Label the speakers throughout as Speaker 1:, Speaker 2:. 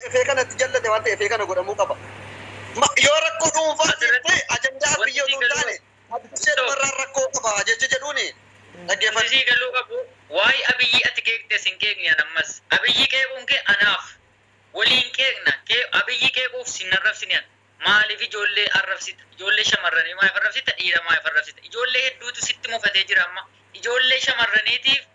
Speaker 1: dhufee kana itti jallate waan ta'eef kana godhamuu qaba. Yoo rakkoo dhuunfaa ta'e ajandaa biyya utuu hin taane Abdishee dhumarraan rakkoo qaba jecha jedhuuni dhaggeeffadhu. Wanti sii galuu qabu
Speaker 2: waa'ee Abiyyii ati qeeqxes hin qeeqni an ammas. Abiyyii qeequun kee anaaf. Waliin qeeqna. Abiyyii qeequuf si hin arrabsine an. Maaliif ijoollee arrabsita? Ijoollee shamarranii maaliif arrabsita? Dhiira maaliif arrabsita? Ijoollee hedduutu sitti mufatee jira amma. Ijoollee shamarraniitiif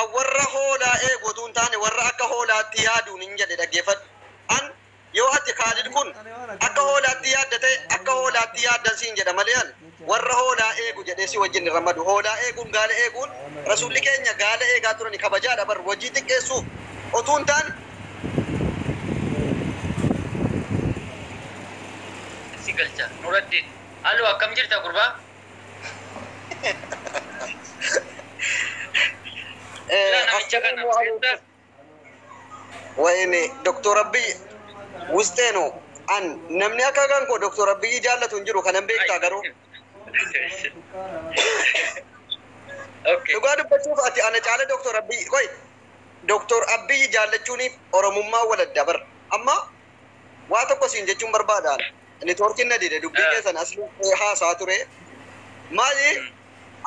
Speaker 1: An warra hoolaa eegu utuu hin taane, warra akka hoolaatti yaaduunin jedhe. Dhaggeeffadhu. An, Yoo ati, Kaalid kun, akka hoolaatti yaadda ta'e, akka hoolaatti yaaddan siin jedha malee an, warra hoolaa eegu jedhee si wajjin hin ramadu. Hoolaa eeguun, gaala eeguun, Rasuulli keenya gaala eegaa turani, kabajaadha bar, hojii xiqqeessuuf utuu hin taane.
Speaker 2: si galcha. Nuraddiin, Haloo, akkam jirta gurbaa? Ilaa
Speaker 1: namicha kana beektaa? Wayne Doktor Abiyyi Wusxee no an namni akka kan koo Doktor Abiyyi jaallatu hin jiru kanan beektaa garuu Okay. dhugaa dubbachuuf ati ana caala Doktor Abiyyi qoy Doktor Abiyyi jaallachuuniif Oromummaa waladda bar amma Waa tokko siin jechuun barbaada an. Networkin na dide dubbii keessan asli haasa'a ture. Maali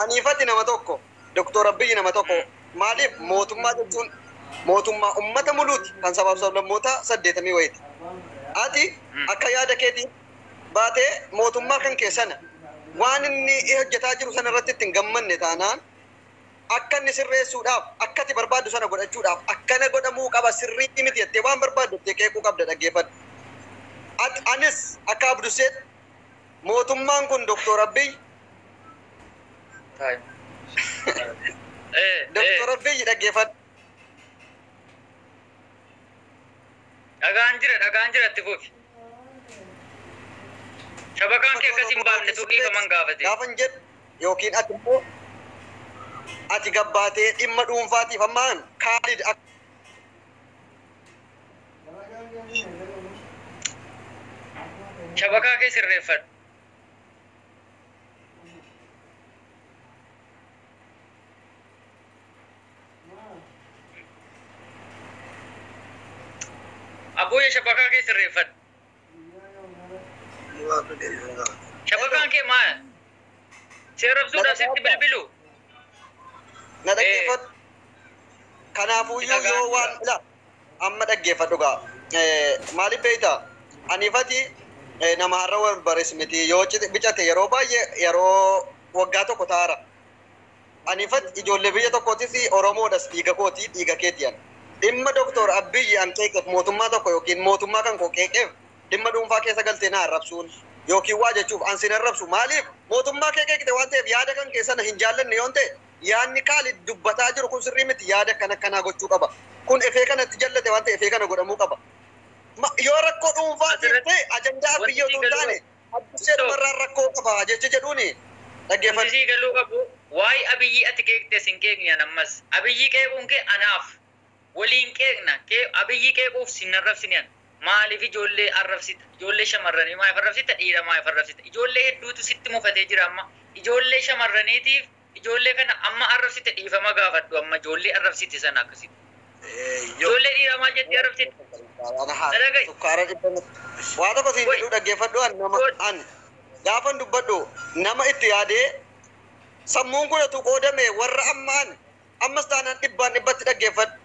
Speaker 1: aniif ati nama tokko Doktor Abiyyi nama tokko maaliif mootummaa jechuun mootummaa ummata muluuti kan sabaaf sablammootaa saddeetamii wayiti. Ati akka yaada keetiin baatee mootummaa kan kee sana waan inni hojjetaa jiru sana irratti itti hin gammanne taanaan akka inni sirreessuudhaaf akka ati barbaaddu sana godhachuudhaaf akkana godhamuu qaba sirrii miti jettee waan barbaaddu jettee qeequu qabda dhaggeeffadhu. At, anis akka Abdusseetti mootummaan kun Doktor Abbiy Time. Eh, eh, Doktor Abbiy dhaggeeffadhu.
Speaker 2: dhagaan jira, dhagaan jira itti fufi. Shabakaan kee akkasii hin baafne tuu dhiifaman gaafate. Gaafan jedhu
Speaker 1: Yookiin ati immoo ati gad baatee dhimma dhuunfaatiif amma an Kaalid akka.
Speaker 2: Shabakaa kee sirreeffadhu. Abooyee shabakaa kee sirreeffadhu. Shabakaan kee maa si arrabsuudhaaf sitti bilbilu?
Speaker 1: Na dhaggeeffadhu. Kanaafuyyuu yoo waan ila amma dhaggeeffadhu gaa. Eh, Maaliif beekta? Ani fati eh, nama har'a wal bares miti. Yoo cite- bicate yeroo baay'ee yeroo waggaa tokko taara. Ani fat ijoollee biyya tokkootis Oromoodhas dhiiga kooti dhiiga keeti an. Dhimma Doktoor Abbiyyi an qeeqef mootummaa tokko ykn mootummaa kan koo qeeqef dhimma dhuunfaa keessa galtee na arrabsuun ykn waa jechuuf an sin arrabsu maaliif mootummaa kee qeeqte waan ta'eef yaada kan kee sana hin jaallanne yoon ta'e yaadni Kaalid dubbataa jiru kun sirrii miti yaada akkan akkanaa gochuu qaba kun efee kana itti jallate waan ta'e efee kana godhamuu qaba yoo rakkoo dhuunfaa siif ta'e ajandaa Abbiyyi otuu hin taane Abbushee dhumarraan rakkoo qaba jecha jedhuun dhaggeeffadhu. Wanti sii galuu qabu
Speaker 2: waa'ee Abiyyii ati qeeqxes hin qeeqni an ammas. Abiyyii qeequun kee anaaf. Waliin qeeqna. Abiyyii qeequuf sin arrabsine an. Maaliif ijoollee arrabsita? Ijoollee shamarranii maaliif arrabsita? Dhiira maaliif arrabsita? Ijoollee hedduutu sitti mufatee jira amma. Ijoollee shamarraniitiif Ijoollee kana amma arrabsite dhiifama gaafadhu amma ijoollee arrabsite sana akkasitti. Ijoollee dhiiraa maal jettee arrabsite? Dhagahi. Sukkaara dhibba
Speaker 1: miti. Waa tokko siin jedhuu dhaggeeffadhu an nama an gaafan dubbadhu nama itti yaadee sammuun kun utuu qoodame warra amma an ammas taanaan dhibbaan dhibbatti dhaggeeffadhu.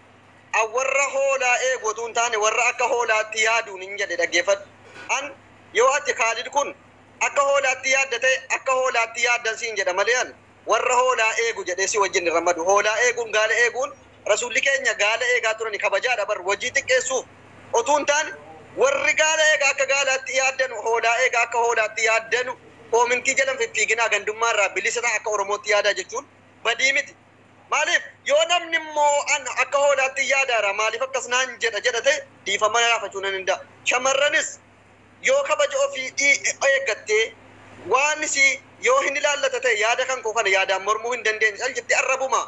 Speaker 1: An warra hoolaa eegu utuu hin taane warra akka hoolaatti yaaduun hin jedhe dhaggeeffadhu. An yoo ati Kaalid kun Akka hoolaatti yaadda ta'e, akka hoolaatti yaaddan siin jedha malee an warra hoolaa eegu jedhee si wajjin hin rammadu. Hoolaa eeguun, gaala eeguun Rasuulli keenya gaala eegaa turani kabajaadha bar wajii xiqqeessuuf otuu hin taane warri gaala eega akka gaalaatti yaaddanu hoolaa eega akka hoolaatti yaaddanu koomintii jala hin fiffiiginaa gandummaa irraa bilisa ta'a akka oromootti yaadaa jechuun badii miti. Maaliif yoo namni immoo an akka hoolaattin yaadaara maaliif akkas naan jedha jedha ta'e dhiifama gaafachuu nan danda'a. Shamarranis Yoo kabaja ofii i eeggattee, waan si yoo hin ilaallata ta'e yaada kan koo kana yaadaan mormuu hin dandeenye cal jettee arrabuma.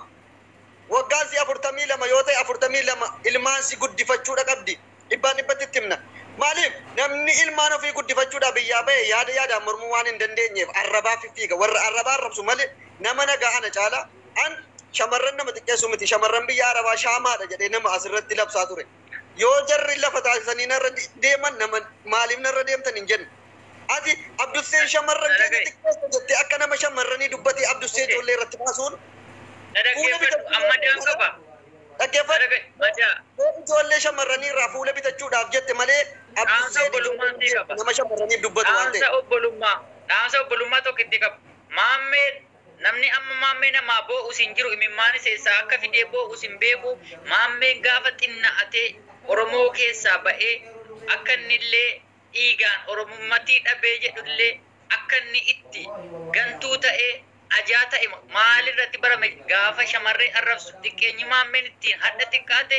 Speaker 1: Waggaan si 42 yoo ta'e 42 ilmaan si guddifachuudha qabdi. Dhibbaan dhibbatti itti himna. Maaliif? Namni ilmaan ofii guddifachuudhaa biyyaa bahe yaada yaadaan mormuu waan hin dandeenyeef arrabaa fiffiiga. Warra arrabaa arrabsu malee nama nagaa ana caala. An shamarran nama xiqqeessu miti. Shamarran biyya Arabaa shaamaadha jedhee nama asirratti labsaa ture. Yoo jarri lafa taasisanii narra deeman nama maaliif narra deemtan hin jenne. Ati Abdusseen shamarran keenya xiqqeessa jettee akka nama shamarranii dubbatee Abdussee ijoollee irratti kaasuun fuula
Speaker 2: bitachuudhaaf dhaggeeffadhu
Speaker 1: ijoollee shamarranii irraa fuula bitachuudhaaf jette malee Abdusseen ijoollee hin jeeqne nama shamarraniif dubbatu waan ta'eef. Dhaamsa
Speaker 2: obbolummaa tokkittii qaba. Maammeen. Namni amma Maammee namaa boo'us hin jiru imimmaanis eessaa akka fidee boo'us hin beeku Maammeen gaafa xinna'atee Oromoo keessaa ba'ee akka innillee dhiigaan Oromummatii dhabee jedhullee akka inni itti gantuu ta'ee ajaa ta'e maalirratti barame gaafa shamarree arrabsu xiqqeenyi Maammeen ittiin hadha xiqqaate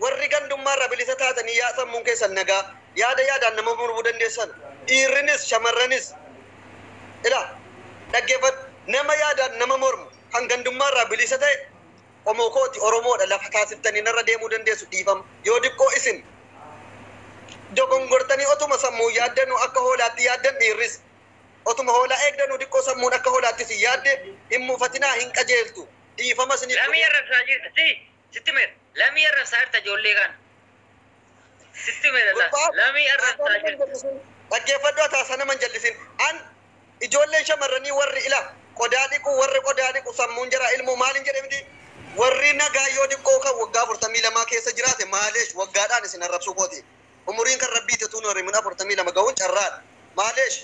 Speaker 1: Warri gandummaarraa bilisa taatanii yaa sammuun keessan nagaa yaada yaadaan nama murmuu dandeessan dhiirrinis shamarranis Ilaa! Dhaggeeffadhu! Nama yaadaan nama mormu kan gandummaarraa bilisa ta'e qomoo kooti Oromoodha lafa taasiftanii narra deemuu dandeessu dhiifama yoo diqqoo isin dogongortanii otuma sammuun yaaddanuu akka hoolaatti yaaddan dhiirris otuma hoolaa eegdanuu diqqoo sammuun akka hoolaatti isin yaadde hin mufatinaa hin qajeeltu dhiifama isiniif Lamii godheera. arrabsaa jirta si
Speaker 2: Sitti himeera. Lamii arrabsaa jirta ijoollee kana. Sitti himeera laa. Gurbaa Lamii haasaa arrabsaa nama hin jirta. jallisin. Dhaggeeffadhu ati haasaa
Speaker 1: nama hin jallisin. An ijoolleen shamarranii warri ila qodaa dhiqu warri qodaa dhiqu sammuun jaraa ilmoo maaliin jedhe miti. Warri nagaa yoo diqqoo kan waggaa 42 keessa jiraate maaleesh waggaadhaan isin arrabsuu kooti. Umuriin kan rabbiiti utuu hin horimin 42 ga'uun carraadha. Maaleesh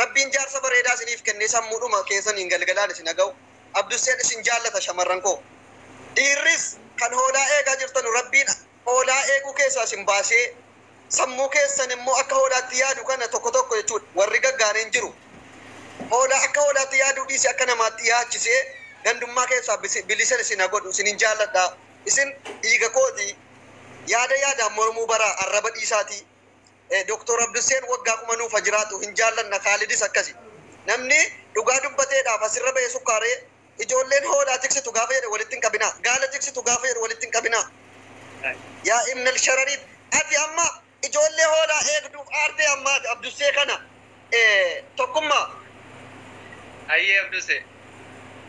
Speaker 1: Rabbiin jaarsa bareedaa isiniif kennee sammuudhuma keessaniin galgalaan isin ha ga'u. Abdusseen isin jaallata shamarran koo. Dhiirris kan hoolaa eegaa jirtanu Rabbiin hoolaa eeguu keessaa isin baasee sammuu keessan immoo akka hoolaatti yaadu kana tokko tokko jechuudha warri gaggaariin jiru. Hoolaa akka hoolaatti yaaduu dhiisee akka namaatti yaachisee gandummaa keessaa bisi- bilisa isin ha godhu isinin jaalladha. Isin dhiiga kooti. Yaada yaadaan mormuu baraa arraba dhiisaatii. Doktar Abdusseen waggaa kuma nuuf ha jiraatu hin jaallanna kaalidis akkasi namni dhugaa dubbateedhaaf asirra bahe sukkaaree ijoolleen hoolaa tiksitu gaafa jedhe walitti hin qabinaa gaala tiksitu gaafa jedhu walitti hin qabinaa yaa ibnal sharariit ati amma ijoollee hoolaa eegduuf aartee amma ati abdussee kana ee tokkummaa.
Speaker 2: Hayyee Abduse.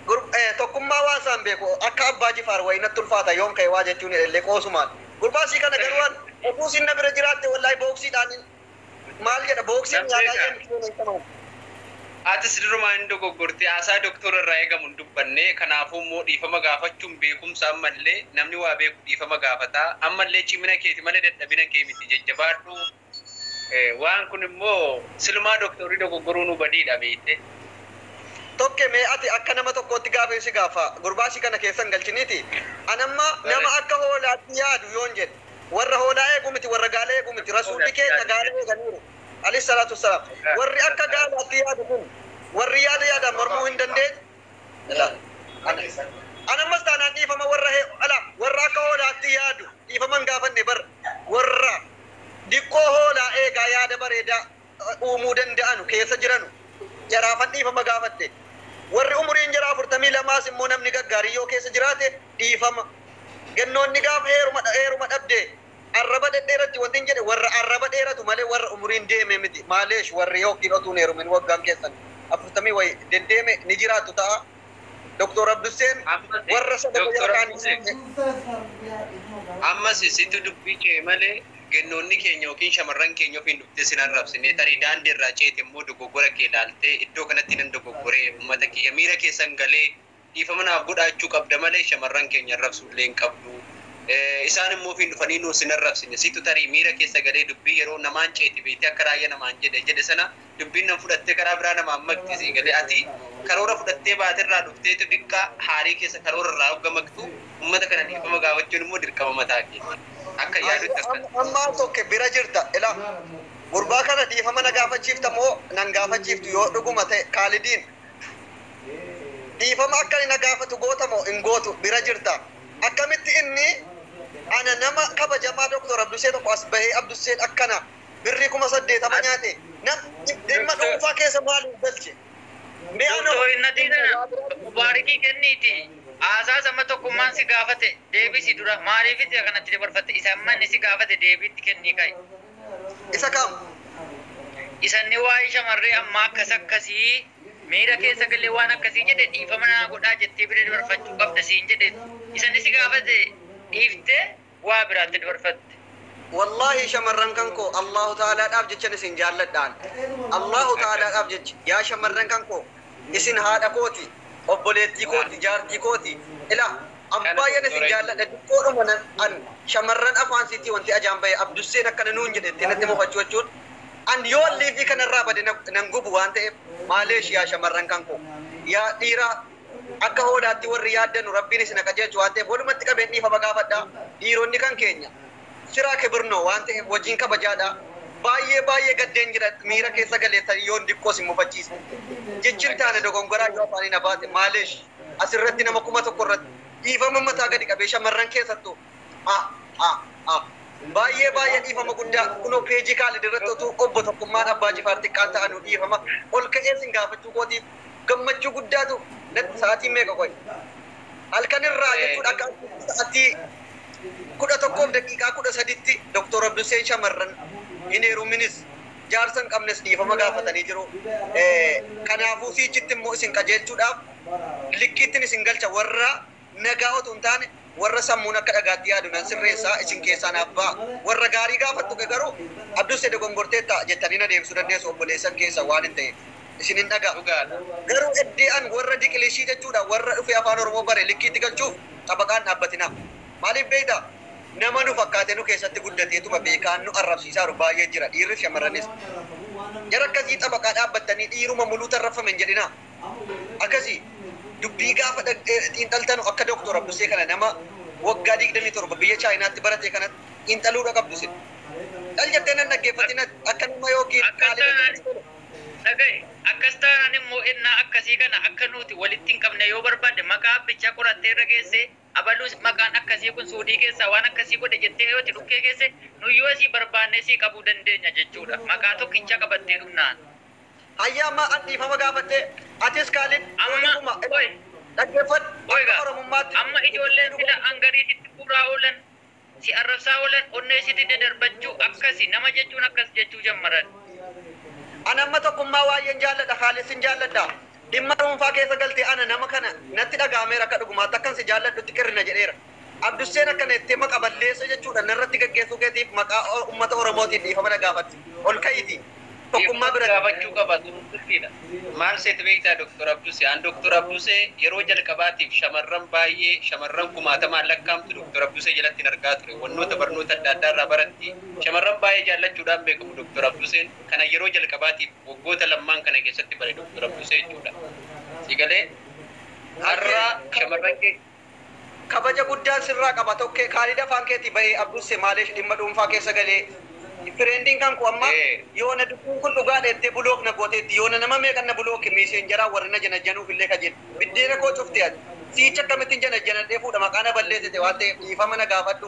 Speaker 2: Gurb ee
Speaker 1: tokkummaa waan saan beeku akka abbaa jifaar wayi natti ulfaata yoon ka'e waa jechuun hidhellee qoosumaan. Gurbaa sii kana garuu an otuu isiin na bira jiraatte wallaahi booksiidhaan maal jedha booksii Nan nyaataa beeka. jedhan foon
Speaker 2: hin qaban. Atis durumaa hin dogoggorte haasaa doktoora irraa eegamu hin dubbanne kanaafuu immoo dhiifama gaafachuun beekumsa ammallee namni waa beeku dhiifama gaafata ammallee cimina keeti malee dadhabina kee miti jajjabaadhu. Waan kun immoo silumaa doktorii dogoggoruunuu badiidha beeyte.
Speaker 1: Tokke mee ati akka nama tokkootti gaafiin si gaaffa gurbaa si kana keessa hin galchiniiti an amma nama akka hoolaatti yaadu yoon jedhe warra hoolaa eegu miti warra gaala eegu miti rasuulli keenya gaala eeganiiru aleyh salaatu wasalaam warri akka gaalaatti yaadu kun warri yaada yaadaan mormuu hin dandeenye Ilaali. Ana isa. Ani ammas taanaan dhiifama warra he, ala, warra akka hoolaatti yaadu dhiifama hin gaafanne bar, warra diqqoo hoolaa eegaa yaada bareedaa uumuu danda'anu keessa jiranu jaraafan dhiifama gaafadhe. Warri umuriin jaraa 42s immoo namni gaggaariin yoo keessa jiraate dhiifama. Gennoonni gaaf heeruma, heeruma dhabde Arraba dhedheeratti wantin jedhe warra arraba dheeratu malee warra umuriin deeme miti maaleesh warri ykn otuu hin heerumin waggaan keessan afurtamii wayi deddeeme ni jiraattu ta'a Doktoor Abdusseen warra sadako jara kaan hin dhiifne.
Speaker 2: Ammasi situ dubbi ce'e malee gennoonni keenya ykn shamarran keenya ofiin dhuftee sin arrabsine tarii daandi irraa ceete immoo doggogora kee ilaaltee iddoo kanatti nan doggogoree ummata kiyya miira keessan galee Dhiifama naaf godhaa jechuu qabda malee shamarran keenya arrabsuu illee hin qabdu.
Speaker 3: Isaan immoo ofiin dhufanii nuus hin arrabsine. Situ tarii miira keessa galee dubbii yeroo namaan ceeti beektee akka raayya namaan jedhe jedhe sana dubbiin nan fudhattee karaa biraa namaan maqxi sii galee. Ati karoora fudhattee baate irraa dhufteetu diqqaa haarii keessa karoora irraa hogga maqxu ummata kana dhiifama gaafachuun immoo dirqama mataa keeti. Akkan yaadutti akkas. Amma tokke bira
Speaker 1: jirta ila gurbaa kana dhiifama na gaafachiifta moo nan gaafachiiftu yoo dhuguma ta'e Kaalidiin Dhiifama akka ani na gaafatu goota moo hin gootu? Bira jirta. Akkamitti inni ana nama kabajamaa Doktar Abdusee tokko as bahee Abdusseen akkana birrii kuma saddeetama nyaate nam dhimma dhuunfaa keessa maal hin galche? Mee anoo Doktar
Speaker 2: hin natii tana waa biraa dubbadhu. Mubaarikii kenniiti haasaas amma tokkummaan si gaafate deebisi dura maaliifiti akanatti dabarfatte isa amma inni si gaafate deebii itti kennii ka'i. Isa kam?
Speaker 1: Isa
Speaker 2: inni waa'ee shamarree ammaa akkas akkasii miira keessa galee waan akkasii jedhe dhiifama naa godhaa jettee bira dabarfachuu qabda siin jedhe isa inni si gaafate dhiiftee waa biraatti dabarfatte. Wallaahi
Speaker 1: shamarran kan koo Allaahu ta'aalaadhaaf jechan isin jaalladha an. Allaahu ta'aalaadhaaf jecha yaa shamarran kan koo isin haadha kooti, obboleettii kooti, jaartii kooti. Ilaa Abdu baay'een isin jaalladha xiqqoodhuma nan an shamarran afaan siitii wanti ajaan bahe abdusseen akkana nuun jedhe jettee natti mufachuu jechuun an yoon liivii kana irraa bade na nan gubu waan ta'eef maaleesh yaa shamarran kan koo yaa dhiiraa akka hoolaatti warri yaaddanu rabbiin isin ha qajeelchu waan ta'eef walumatti qabeen dhiifama gaafadha dhiironni kan keenya siraa kibirnoo waan ta'eef wajiin kabajaadha baay'ee baay'ee gaddeen jira miira keessa galeessanii yoon diqqoo isin mufachiise jechin taane dogongoraa yoo afaanii na baate maaleesh as irratti nama kuma tokko irratti dhiifama mataa gadi qabee shamarran keessattuu a a a baay'ee baay'ee dhiifama guddaa kunoo peejii kaalid irratti otuu obbo tokkummaan abbaa jifaar xiqqaan ta'anu dhiifama ol ka'ee sin gaafachuu kootiif gammachuu guddaatu natti sa'aatiin meeqa qoy halkan irraa jechuudha akka sa'aatii kudha tokkoof daqiiqaa kudha saditti doktor Abduseen shamarran hin heeruminis jaarsa hin qabnes dhiifama gaafatanii jiru. Kanaafuu siichitti immoo isin qajeelchuudhaaf likkiittin isin galcha warra nagaa otuu hin taane warra sammuun akka dhagaatti yaadu nan sirreessa isin keessaa naaf ba'a. Warra gaarii gaafattuke garuu Abduse dogongorteetta jettanii na deebisuu dandeessu obboleessan keessan waanin ta'eef isinin dhaga'a. Garuu eddee an warra diqilishii jechuudha warra dhufee afaan oromoo bare likkiitti galchuuf xabaqaa hin dhaabbatinaa. Maaliif beektaa? Nama nu fakkaatee nu keessatti guddateetuma beekaan nu arrabsiisaaru baay'ee jira, dhiirris shamarranis. Jara akkasii xabaqaa dhaabbattanii dhiiruma muluu tarraffame hin jedhinaa. Akkasii. Dubbii gaafa xiinxaltanu akka Doktoor Abdussee kana nama waggaa 27 biyya Chaayinaatti baratee kanatti xiinxaluudha qabdu isin. Cal jettee nan dhaggeeffatin ati. Akka nama ykn xaaliba tokkotti tole.
Speaker 2: Dhaga'i, akkas taanaan immoo ennaa akkasii kana akka nuti walitti hin qabne yoo barbaadde maqaa abbichaa qorattee irra geessee Abalu maqaan akkasii kun Suudii keessaa waan akkasii godhe jettee yoo itti dhukkee keesse, nuyi yoo si barbaanne si qabuu dandeenya jechuu dha. Maqaa tokkicha qabattee dhumnaan. Hayyee amma
Speaker 1: ati dhiifama gaafattee. Atis Kaalid yoo dhuguma. Qoy.
Speaker 2: Dhaggeeffadhu.
Speaker 1: Qoy Akka gaa. Oromummaatti.
Speaker 2: Amma ijoolleen sila an garii sitti guuraa oolan. Si arrabsaa oolan onnee sitti dadarbachuu akkasi nama jechuun akkas jechuu jammaran. An
Speaker 1: amma tokkummaa waayyen jaalladha kaalid sin jaalladha dhimma dhuunfaa keessa galtee ana nama kana natti dhaga'ameera akka dhugumaatti akkan si jaalladhutti qirri na jedheera abdusseen akkana jettee maqa balleessoo jechuudhan narratti gaggeessuu keetiif maqaa ummata oromootiin dhiifama na gaafadhu ol ka'iitii Tokkummaa bira dhaabachuu qaba turuun
Speaker 3: dirqiidha. Maal seete beektaa Dr. Abduse? An Dr. Abduse yeroo jalqabaatiif shamarran baay'ee, shamarran kumaatamaan lakkaa'amtu Dr. Abduse jalattin argaa ture. Wannoota barnoota adda addaa irraa baratti. Shamarran baay'ee jaallachuudhaan beekamu Dr. Abduseen. Kanan yeroo jalqabaatiif waggoota lammaan kana keessatti bare Dr. Abduse jechuudha. Sii galee? Har'a shamarran keenya. Kabaja
Speaker 1: guddaan sirraa qaba tokke. Kaalid afaan keetii bahee abbusse maalesh dhimma dhuunfaa keessa galee Fireendin kan koo amma yoona dubbiin kun dhugaadha jettee bulook na gooteetti yoona nama meeqan na bulooke miiseenjaraa warri na janajjanuuf illee kajeele biddeena koo cufte ati siicha akkamittin janajjanadhee fuudha maqaa na balleesite waan ta'eef dhiifama na gaafadhu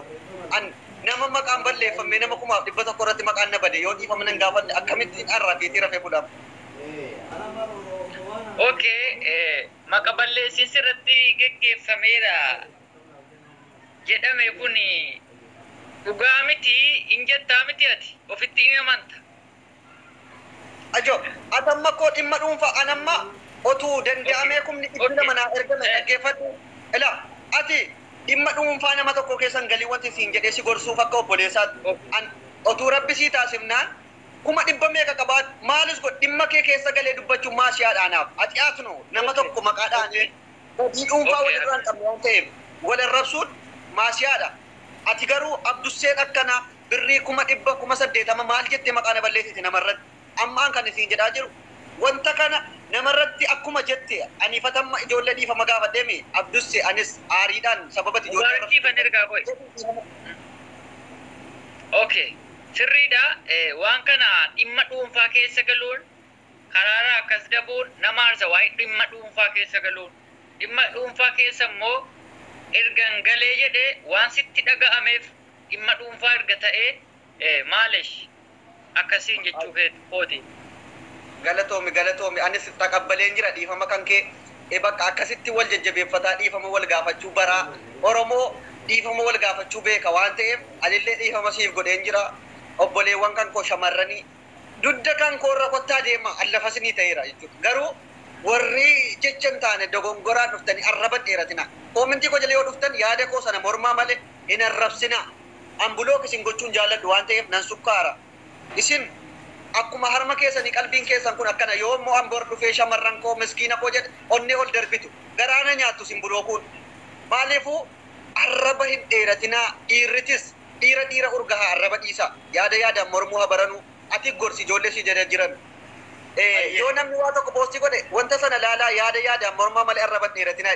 Speaker 1: an nama maqaan balleeffammee nama kumaaf dhibba tokko irratti maqaan na bade yoo dhiifama nan gaafadhe akkamittin arra fiitii rafee bula amma.
Speaker 2: ok. Maqa balleessiinsi irratti geggeeffameera jedhame kun dhugaa miti in jettaa miti ati? Ofitti in amanta?
Speaker 1: Ajo, Ati amma koo dhimma dhuunfaa an amma otu danda'amee kumni dhibbi lama naa ergame dhaggeeffadhu ila, ati dhimma dhuunfaa nama tokkoo keessa hin galin wantin siin jedhee si gorsuuf akka obboleessaatti an otuu rabbi sii taasifnaan Kuma dhibba meeqa qabaadhu, maalis godhi, dhimma kee keessa galee dubbachuun maal si haadha anaaf? Ati Atnoo, nama tokko maqaa dhaanee badii dhuunfaa wal irraa hin qabne waan ta'eef wal arrabsuun maa si haadha? Ati garuu Abdusseen akkana birrii kuma dhibba, kuma saddeetama maal jettee maqaa na balleessiti nama irratti? Amma an kanin siin jedhaa jiru wanta kana nama irratti akkuma jette ani fatamma ijoollee dhiifama gaafadhee mii? Abdusse, anis aariidhaan sababa ati ijoollee arrabsitu jedhuun dhiifama.
Speaker 2: Okay. Sirriidha, waan kana dhimma dhuunfaa keessa galuun karaarraa akkas dabuun nama aarsa waa'ee dhimma dhuunfaa keessa galuun. Dhimma dhuunfaa keessa immoo ergan galee jedhe waan sitti dhaga'ameef dhimma dhuunfaa erga ta'ee maalesh akkasiin jechuu keeti. kooti. Galatoomi
Speaker 1: galatoomi anis taqabbaleen jira dhiifama kankee e bakka akkasitti wal jajjabeeffataa dhiifama wal gaafachuu baraa oromoo dhiifama wal gaafachuu beeka waan ta'eef anillee dhiifama siif godheen jira obboleewwan kan koo shamarranii dudda kan koo irra kottaa deemaa an lafa isinii ta'eera jechuudha garuu warri jecha hin taane dogongoraan dhuftanii arraba hin dheeratinaa koomentii koo jala yoo dhuftan yaada koo sana mormaa malee hin arrabsinaa an block isin gochuu hin jaalladhu waan ta'eef nan sukkaara. Isin akkuma harma keessanii qalbiin keessan kun akkana yoom mo'an bor dhufee shamarran koo miskiina koo jedhe onnee ol darbitu garaa na nyaattu isin bulookuun maaliifuu arraba hin dheeratinaa dhiirritis dhiira dhiira urgahaa arraba dhiisaa yaada yaadaan mormuu ha baranuu ati gorsi ijoollee si jala jiran yoo namni waa tokko poostii godhe wanta sana laalaa yaada yaadaan mormaa malee arraba hin dheeratinaa.